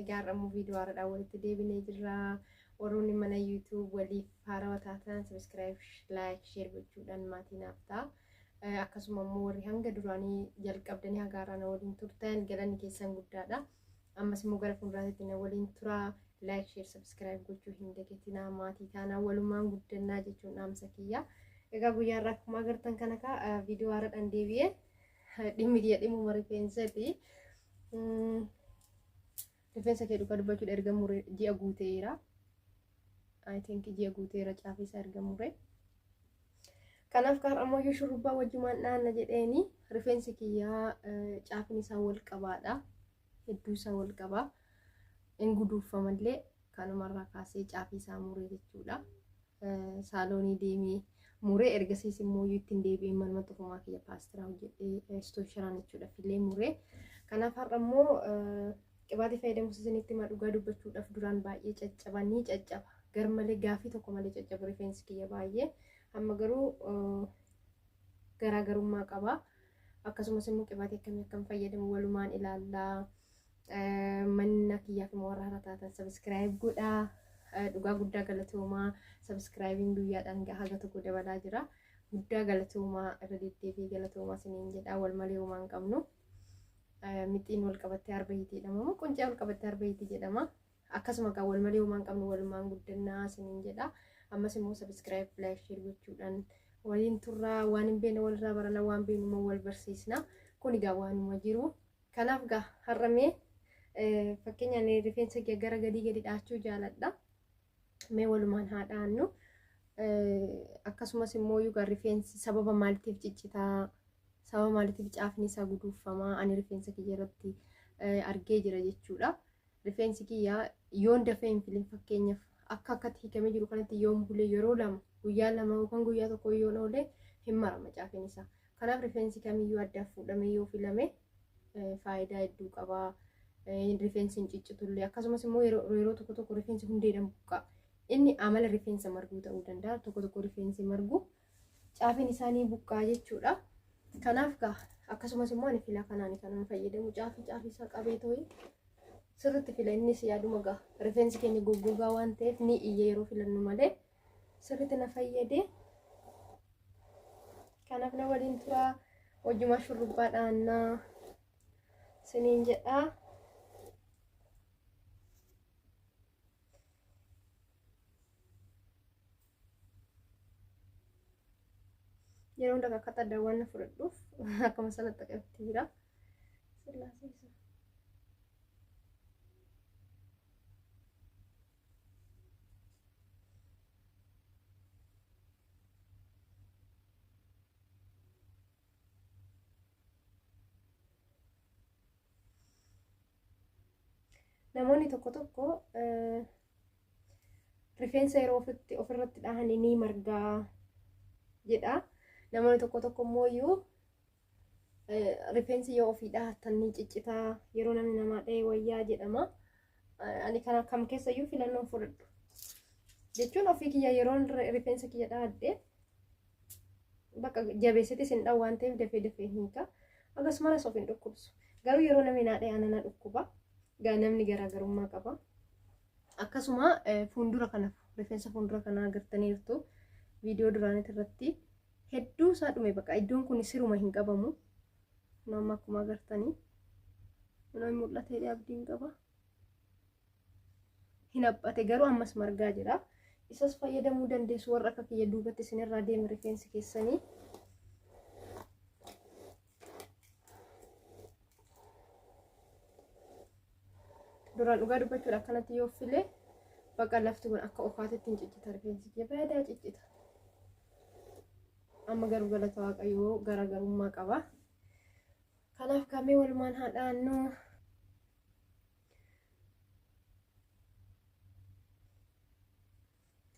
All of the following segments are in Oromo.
Egaa har'a immoo viidiyoo haaraadhaan walitti deebinee jirra. Warroonni mana YouTube waliif haarawa taatan subscribe, like, share gochuudhaan maatii naaf ta'a. Akkasuma immoo warri hanga duraanii jalqabdanii haga har'aa na waliin turtan galanni keessan guddaadha. Ammas immoo gara fuulduraatti na waliin turaa. Like, share, subscribe gochuu hin dagatinaa maatii taanaa walumaan guddannaa jechuun dhaamsa kiyya. Egaa guyyaa har'aa akkuma agartan kana kaa viidiyoo haaraadhaan deebi'ee dhimmi kiyya dhimmuma rifeensati. Rifeensa kee dhugaa dubbachuudha erga mure ji'a guuteera. I think ji'a guuteera caafeessa erga mure. Kanaaf kaar ammoo yoo shurrubbaa wajjumaan dhaanna jedheeni rifeensi kiyyaa caafni isaa wal qabaadha. Hedduu isaa wal qabaa. In guduuffamallee kanumarraa kaasee caafii isaa mure jechuudha. saaloonii deemee muree ergasiis immoo iyyuu ittiin deebi'ee manuma xufumaa kiyya paastiraa hojjedhee istoosharaan jechuudhaaf illee muree kanaaf har'a immoo qibaatii fayyadamuus isinitti himaa dhugaa dubbachuudhaaf duraan baay'ee caccaba ni caccaba garmalee gaafii tokko malee caccabu rifeensi kiyya baay'ee amma garuu garaagarummaa qaba akkasumas immoo qibaatii akkamii akkan fayyadamu walumaan ilaallaa. Manna kiyyaaf immoo warra hara taatan sabiskiraayib godhaa. Dhugaa guddaa galatoomaa sabiskiraayibiin guyyaadhaan haga tokko dabalaa jira. Guddaa galatoomaa irra deddeebi'ee galatoomaa isiniin jedhaa wal malee homaa hin qabnu. Mixiin wal qabattee arba hiiti jedhama moo quncee wal qabattee arba hiiti jedhama. Akkasuma kan wal malee homaa hin qabnu walumaan guddannaa isiniin jedhaa. Ammas immoo sabiskiraayib laayik sheer gochuudhaan waliin turraa waan hin beekne walirraa barana waan beeknu immoo wal barsiisna. Kun egaa waanuma jiru. Kanaaf gaa har'a mee fakkeenya ani rifeensa kiyya gara gadii gadi dhaachuu jaaladha. Mee walumaan haa dhaannu. Akkasumas immoo yookaan rifeensi sababa maaliitiif ciccitaa sababa maaliitiif caafni isaa guduuffamaa ani rifeensa kiyya irratti argee jira jechuudha. Rifeensi kiyya yoon dafee hin filin fakkeenyaaf akka akkatti hiikamee jiru kanatti yoon bulee yeroo lama guyyaa lama yookaan guyyaa tokko yoon oolee hin marama caafni isaa. Kanaaf rifeensi kamiyyuu addaaf fuudhamee yoo filame faayidaa hedduu qaba. Rifeensi hin ciccitullee akkasumas immoo yeroo tokko tokko rifeensi hundeedhaan buqqaa. Inni amala rifeensa marguu ta'uu danda'a. Tokko tokko rifeensi margu caafiin isaanii buqqaa jechuudha. Kanaaf gaa akkasumas immoo ani filaa kanaan kanan fayyadamu caafii caafii isaa qabee ta'ee sirriitti fila innis yaaduma gaa rifeensi keenya goggogaa waan ta'eef ni iyya yeroo filannu malee sirriitti na fayyade kanaaf na waliin turaa hojjuma shurrubbaa dhaannaa siniin jedhaa yeroo hunda akka xaddaawwan na fudhadhuuf akkuma sana xaqabti jira sillaasee namoonni tokko tokko rifeensa yeroo ofitti ofirratti dhahan ni margaa jedha namoonni tokko tokko immoo iyyuu Rifeensi yoo ofii dhahattan ni ciccitaa yeroo namni namaa dhahee wayyaa jedhama. Ani kana kam keessayyuu filannoon fudhadhu. Jechuun ofii kiyya yeroo rifeensa kiyya dhahadhe bakka jabeessitis hin dhahu waan ta'eef dafee dafee hin hiika. Akkasumas of hin dhukkubsu. Garuu yeroo namni naa dhahe anana dhukkuba. Namni garaagarummaa qaba. Akkasuma fuuldura kana rifeensa fuuldura kanaa agartaniirtu viidiyoo duraanitti irratti hedduu isaa dhume baqa iddoon kun siruma hin qabamu kun amma akkuma agartanii kun hin mul'atee abdiin qaba hin haphate garuu ammas margaa jira isas fayyadamuu dandeessu warra akka kiyya duubatti isinirraa deeme rifeensi keessanii duraan dhugaa dubbachuudha akkanatti yoo filee baqa lafti kun akka ofaatitti hin ciccita rifeensi kiyya badaa ciccita amma garuu galata waaqayyoo garaagarummaa qaba kanaaf kamee walumaan haa dhaannu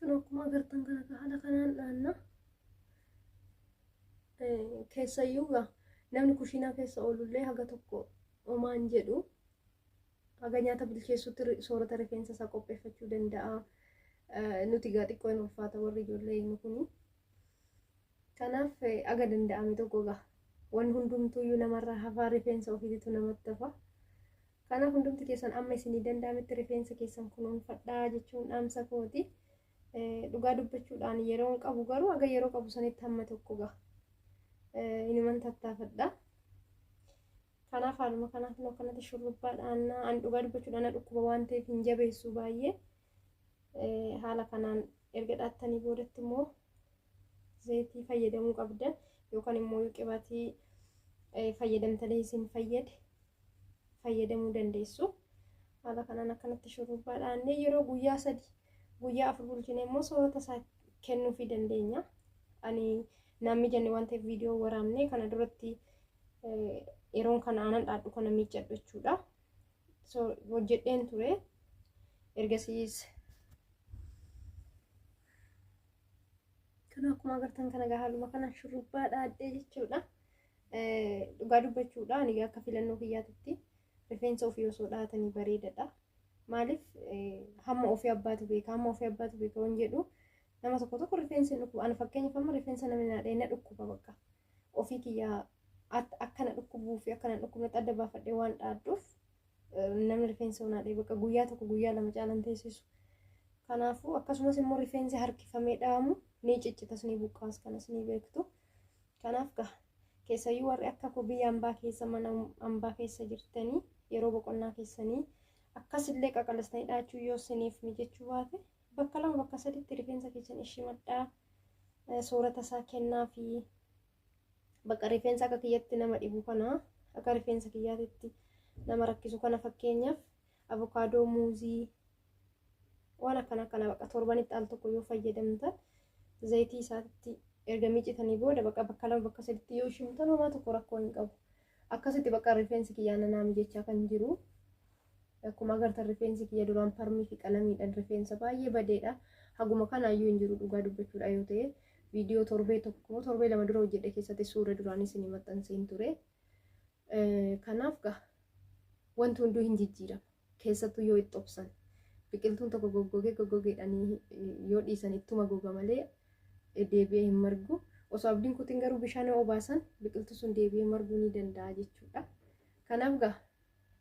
Kan akkuma agartan kana ka haala kanaan dhaanna. Eh, Keessayyuu gaa namni kushiinaa keessa oolullee haga tokko omaan jedhu haga nyaata bilcheessuutti ri- soorata rifeensa isaa qopheeffachuu danda'a. Eh, Nuti gaa xiqqoo hin ulfaata warri ijoollee inni kuni. Kanaaf eh, haga danda'ame tokko gaa waan hundumtuuyyuu namarraa hafaa rifeensa ofiititu namatti hafa. Kanaaf hundumti keessan amma isinii danda'ametti rifeensa keessan kunuunfadhaa jechuun dhaamsa kooti. Dhugaa dubbachuudhaan yeroon qabu garuu aga yeroo qabu sanitti hamma tokko gaha. Inuman tattaafadha. Kanaaf haaluma kanaaf immoo akkanatti shurrubbaa dhaannaa an dhugaa dubbachuudhaan na dhukkuba waan ta'eef hin jabeessu baay'ee. Haala kanaan erga dhaattanii boodatti immoo zayitii fayyadamuu qabdan yookaan immoo qibaatii fayyadamtanii isin fayyade fayyadamuu dandeessu. Haala kanaan akkanatti shurrubbaa dhaannee yeroo guyyaa sadi guyyaa afur bulchine immoo soorata isaa kennuufii dandeenya. Ani naan mijanne waan ta'eef viidiyoo waraabne kana duratti yeroon kana aanan dhaadhu kana miiccadhu jechuudha. So hojjedheen ture. Ergasiis kana akkuma agartan kana haaluma kanaan shurrubbaa dhaadhee jechuudha. Dhugaa dubbachuudha ani akka filannoo kiyyaatitti rifeensa ofii osoo dhahatanii bareedadha. Maaliif hamma ofii abbaatu beeka hamma ofii abbaatu beeka waan jedhu nama tokko tokko rifeensi hin dhukkuba. Ani fakkeenyaaf amma rifeensa namni naa dhahee na dhukkuba bakka ofii kiyyaa akka na dhukkubuu fi akka na dhukkubnetti adda baafadhee waan dhaadhuuf namni rifeensa naa dhahee bakka guyyaa tokko guyyaa lama caalan teessisu. Kanaafuu akkasumas immoo rifeensi harkifamee dhahamu ni ciccitas ni buqqaas kanas ni beektu. Kanaaf gaa keessayyuu warri akka koo biyya ambaa keessa mana ambaa keessa jirtanii yeroo boqonnaa keessanii akkasillee qaqalistanii dhaachuu yoo siniif mijechuu baate bakka lama bakka saditti rifeensa keessan ishimadhaa soorata isaa kennaa fi bakka rifeensa akka kiyyatti nama dhibu kana akka rifeensa kiyyaatitti nama rakkisu kana fakkeenyaaf avokaadoo muuzii waan akkana kana baqa torbanitti al tokko yoo fayyadamtan zayitii isaatti erga miicitanii booda baqa bakka lama bakka saditti yoo shimtan homaa tokko rakkoo hin qabu akkasitti baqa rifeensi kiyyaa nanaa mijachaa kan jiru akkuma agartan rifeensi kiyya duraan parmii fi qalamiidhaan rifeensa baay'ee badeedha haguma kanaayyuu hin jiru dhugaa dubbachuudha yoo ta'e viidiyoo torbee tokko torbee lama dura hojjedhe keessatti suura duraanis ni maxxanseen ture. Kanaaf gaa wanti hunduu hin jijjiirama. Keessattuu yoo itti obsan biqiltuun tokko goggogee goggogeedhanii yoo dhiisan ittuma goga malee deebi'ee hin margu. Osoo abdiin kutiin garuu bishaan yoo obaasan biqiltuu sun deebi'ee marguu ni danda'a jechuudha. Kanaaf gaa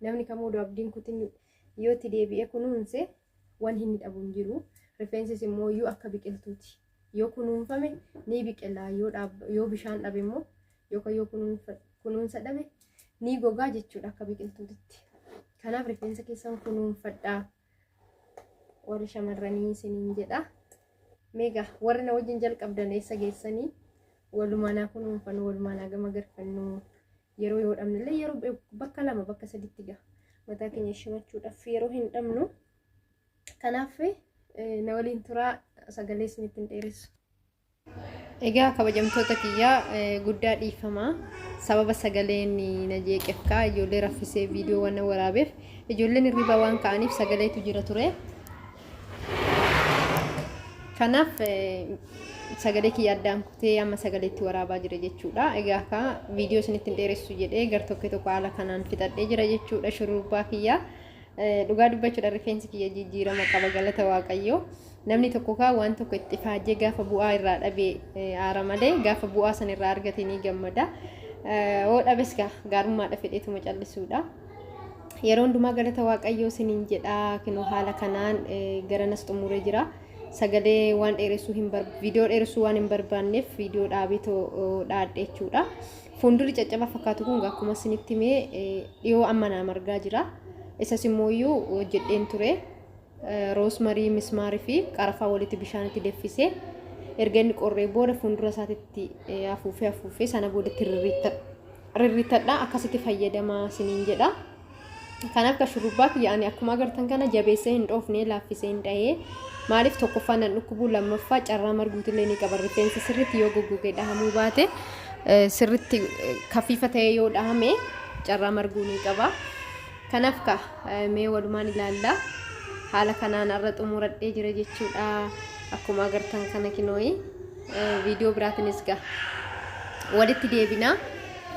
namni kamuu odoo abdiin kutiin yoo itti deebi'ee kunuunse Wanti inni dhabu hin jiru. Rifeensis immoo yoo akka biqiltuuti. Yoo kunuunfame ni biqila. Yoo dhaab- Yoo bishaan dhabe immoo yookaan yoo kunuunfa- kunuunsa dhabe ni gogaa jechuudha akka biqiltuutitti. Kanaaf rifeensa keessan kunuunfadhaa. Warri shamarranii isiniin jedha. Meegaa warri na wajjin jalqabdan eessa geessanii walumaa naa kunuunfannu walumaa naa gama garfannu yeroo yoo dhabne illee yeroo be- bakka lama bakka saditti gaha mataa keenya shimachuudhaaf yeroo hin dhabnu kanaaf eh, na waliin turaa sagalee isinitti hin dheeressu. Egaa kabajamtoota kiyyaa eh, guddaa dhiifamaa sababa sagaleen na jeeqeef kaa ijoollee raffisee viidiyoo waan na waraabeef ijoolleen hirribaa waan ka'aniif sagaleetu jira ture. Kanaaf sagalee kiyya addaan kutee amma sagalee itti waraabaa jira jechuudha. Egaa akka viidiyoo isinitti hin dheeressu jedhee gar tokko tokko haala kanaan fixadhee jira jechuudha shurrubbaa kiyya. Dhugaa dubbachuudha rifeensi kiyya jijjiirama qaba galata waaqayyoo. Namni tokko kaa waan tokko itti faajee gaafa bu'aa irraa dhabee aara malee gaafa bu'aa san irraa argate ni gammada. Hoo dhabes gaa gaarummaadha fedheetuma callisuudha. Yeroo hundumaa galata waaqayyoo sinin jedha kinoo haala kanaan garanas xumuree jira. Sagalee waan dheeressuu hin bar viidiyoo dheeressuu waan hin barbaanneef viidiyoo dhaabee too dhaadhe jechuudha. Fuuldurri caccaba fakkaatu kun akkuma sinitti mee dhiyoo amma naam argaa jira. Isas immoo iyyuu hojjedheen ture. roosmarii, mismaar fi qarafaa walitti bishaanitti deffisee erga inni qorree booda fuuldura isaatitti afuufee afuufee sana booda itti rirriittadha akkasitti fayyadamaa isiniin jedha. Kan akka shurrubbaa kiyya ani akkuma agartan kana jabeessee hin dhoofne laaffisee hin dhahee maaliif tokkoffaa nan dhukkubuu lammaffaa carraa marguutillee ni qaba rifeensi sirriitti yoo goggogee dhahamuu baate sirriitti kafiifa ta'ee yoo dhahame carraa marguu ni qaba. Kanaf ka, mee walumaan ilaalla. Haala kanaan arra xumuradhee jira jechuudha. Akkuma agartan kana kinooyi viidiyoo biraatinis ga walitti deebina.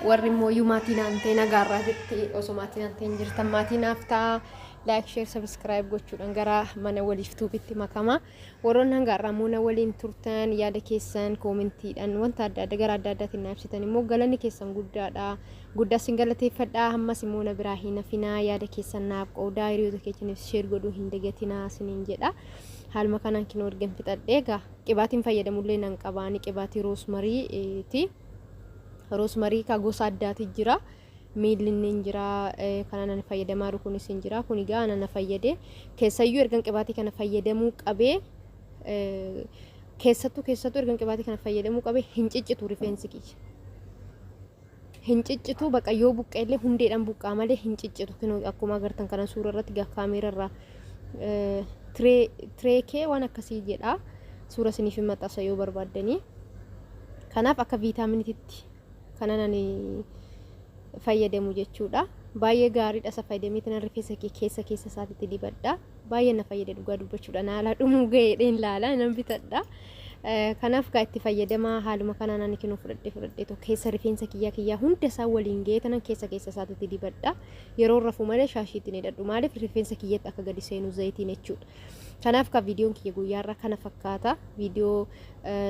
Warri immoo iyyuu maatii naan ta'e nagaarraa jirti. Osoo maatii naan ta'e hin jirtan maatii naaf ta'a. Laayik, sheer, sabiskiraayib gochuudhaan gara mana waliif tuubitti makama. Warroonni hanga har'aa immoo na waliin turtan yaada keessan koomentiidhaan wanta adda adda gara adda addaatiin na ibsitan immoo galanni keessan guddaadha. Guddaa sin galateeffadha. Ammas immoo na biraa hin hafinaa yaada keessan naaf qoodaa hiriyoota keessaniif sheer godhuu hin dagatinaa siniin jedha. Haaluma kanaan kinoo ergan fixadhee egaa qibaatiin fayyadamullee nan qabaani qibaatii roosmariiti. Roosmarii kaa gosa addaati jira. miilli inni hin jira kanaan ani fayyadamaa jiru kunis hin jira kun egaa ana na fayyade keessayyuu ergan qibaatii kana fayyadamuu qabee keessattuu keessattuu ergan qibaatii kana fayyadamuu qabee hin ciccitu rifeensi kiyya hin ciccitu baqa yoo buqqeellee hundeedhaan buqqaa malee hin ciccitu kinoo akkuma agartan kana suura irratti gaa kaameera irraa tireekee waan akkasii jedha suura isiniif hin maxxansa yoo barbaaddanii kanaaf akka viitaaminiititti kanan ani fayyadamu jechuudha. Baay'ee gaariidha isa fayyadamee tanan rifeensa kee keessa keessa isaatitti dibadha. Baay'ee na fayyada dhugaa dubbachuudha. Na alaa dhumuu ga'eedheen laala nan bitadha. Kanaaf gaa itti fayyadamaa haaluma kanaan ani kinuu fudhadhee fudhadhee tokko keessa rifeensa kiyyaa kiyyaa hunda isaa waliin ga'ee tanan keessa keessa isaatitti dibadha. Yeroo rafuu malee shaashiitiin hidhadhu maaliif rifeensa kiyyatti akka gadi seenu zayitiin jechuudha. Kanaaf ka viidiyoon kiyya guyyaarraa kana fakkaata. Viidiyoo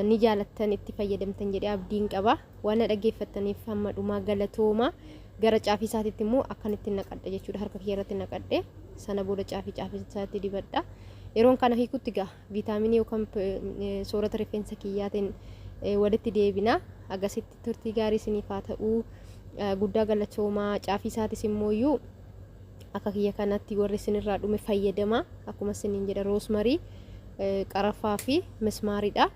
ni jaalattan itti fayyadamtan jedhee abdiin qaba. Waan na dhaggeeffattaniif hamma dhumaa galatooma. Gara caafii isaatiitti immoo akkanitti naqadha jechuudha. Harka kiyya irratti naqadhe. Sana booda caafii caafii isaatti dibadha. Yeroon kana hiikutti gaa viitaaminii yookaan soorata rifeensa kiyyaatiin walitti deebina. Agasitti turtii gaarii isiniif haa ta'uu. Guddaa galatoomaa caafii isaatis immoo iyyuu Akka kiyya kanatti warri isinirraa dhume fayyadamaa. Akkuma isiniin jedha roosmarii, qarafaa fi mismaariidha.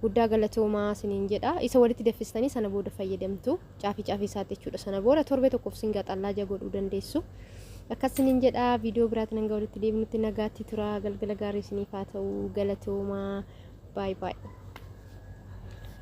Guddaa galatoomaa isiniin jedha. Isa walitti daffistanii sana booda fayyadamtu. Caafii caafii isaatti jechuudha. Sana booda torbee tokkoof isin gaxallaaja godhuu dandeessu. Akkas isiniin jedha viidiyoo biraatiin hanga walitti deebinutti nagaatti tura. Galgala gaarii isiniif haa ta'u. Galatoomaa. Baay baay.